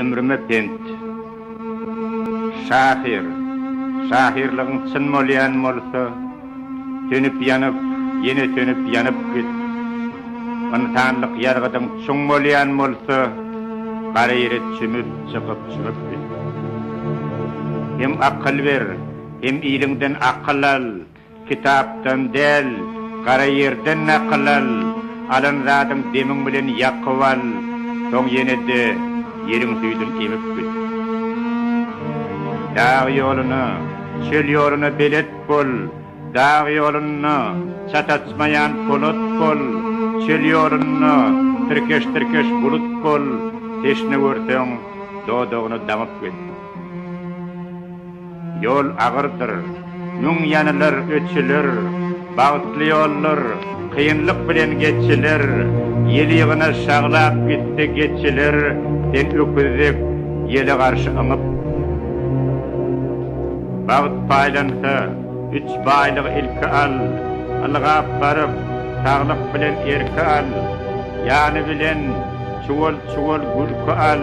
Ömrüme pent. Şahyr, şahyrlygyň çyn bolýan bolsa, sönüp-ýanyp, ýene sönüp-ýanyp git. Ynsanlyk ýazgydyň çuň bolýan bolsa, gara ýere çümüp, çykyp-çümüp git. Hem akyl ber, hem iliňden akyl al. Kitapdan däl, gara ýerden nakyl al, alan zadyň demiň bilen ýakyp al, soň ýene-de ýeriň süýdün emip git. Dag ýoluna, çöl ýoluna belet bol, dag ýolunda çataçmaýan polat bol, çöl ýolunda tirkeş-tirkeş bulut bol, teşne görseň, dodagyny daňyp git. Ýol agyrdyr, müň ýanylar, öçüler, Bagtly ýollar, kynlyk bilen geçiler, Ýylygyna şaglap gitdi geçiler, Sen öküz dek ýele garşy yňyp. Bagt paýlansa, üç baýlygy ilki al, Ylgap baryp, saglyk bilen erki al, Ýany bilen çuwal-çuwal gülki al.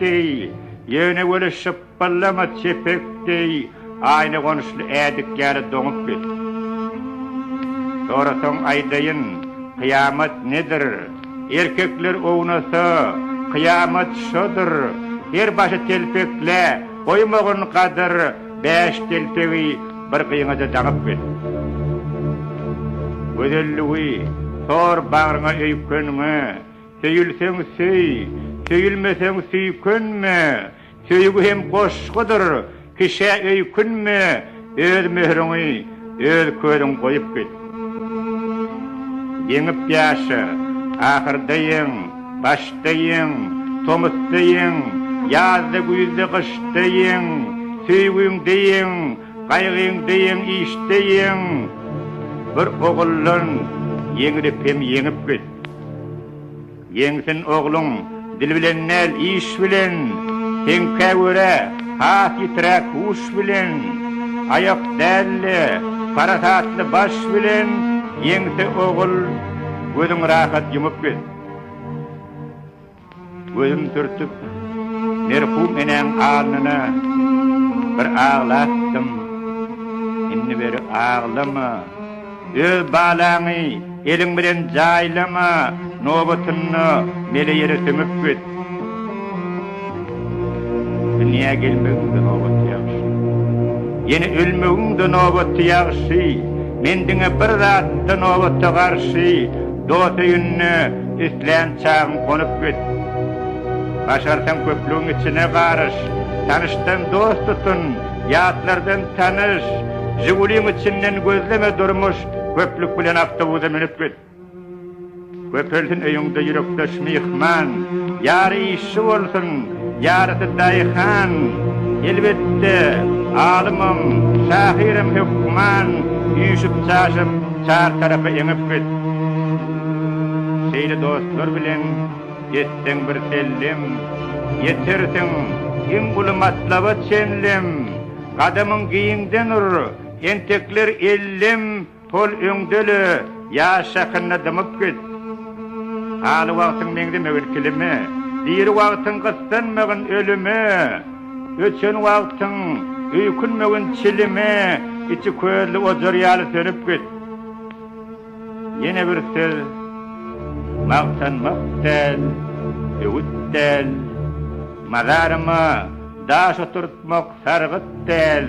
deý, ýöne weli şypbyllama çepek deý, aýna gonuşly ädik ýaly doňup git. Sorasaň aýdaýyn, kyýamat nedir? Erkekler ownasa, kyýamat şodur, her başy telpek-le, goýmagyn gadyr, bäş telpegi bir gyňaja daňyp git. Gözelligi, sor bagryňa öýkeniňi, Söýülseň söý, söýülmeseň süýkünme, Söýgi hem goşgudyr, kişä öýkünme, Öz möhüriňi, öz közüň goýup git. Ýeňip ýaşa, ahyrda ýeň, başda ýeň, Tomusda ýeň, ýazda, güýzde, gyşda ýeň, Söýgiňde ýeň, Gaýgyň deýin işdeýin bir oguldan ýeňlip hem ýeňip git. Ýeňsin ogluň dil bilen däl iş bilen, seňkä görä has ýitiräk huş bilen, aýak däl-de parasatly baş bilen ýeňse ogul gözüň rahat ýumup git. Gözüm sürtüp, merhum enäň alnyna bir aglatdym. Indi beri aglama. Öz balaňy eliň bilen jaýlama, nobatynda mele ýere sümüp git. Dünýä gelmegiň-de nobaty ýagşy. Ýene ölmegiň-de nobaty ýagşy. Men diňe bir zat-da nobata garşy, Dost öýünde islän çagym gonup git. Başarsaň köplügiň içine garyş, Tanyşdan dost tutun, ýatlardan tanyş. Žiguliň içinden gözleme durmuş, Köplük bilen awtobusa münüp git. Köpelsin öýüňde ýürekdeş myhman, Ýary işçi bolsun, ýarysy daýhan. Elbetde, alymam, şahyram hökman, Üýşüp-çaşyp, çar tarapy eňip git. Şeýle dostlar bilen etseň bir sellem, Ýetersiň iň uly matlaba çenlem. Gadamyň giňden ur, entekler ellem, Tol öňdele, ýaş şahynda dymyp git. Haly wagtyň meňzemegin kilime, diri wagtyň gyssanmagyn ölüme. Öçen wagtyň öýkünmegin çilime, içi közli ojar ýaly sönüp git. Ýene bir söz, magtanmak däl, öwüt däl, mazaryma daş oturtmak sargyt däl.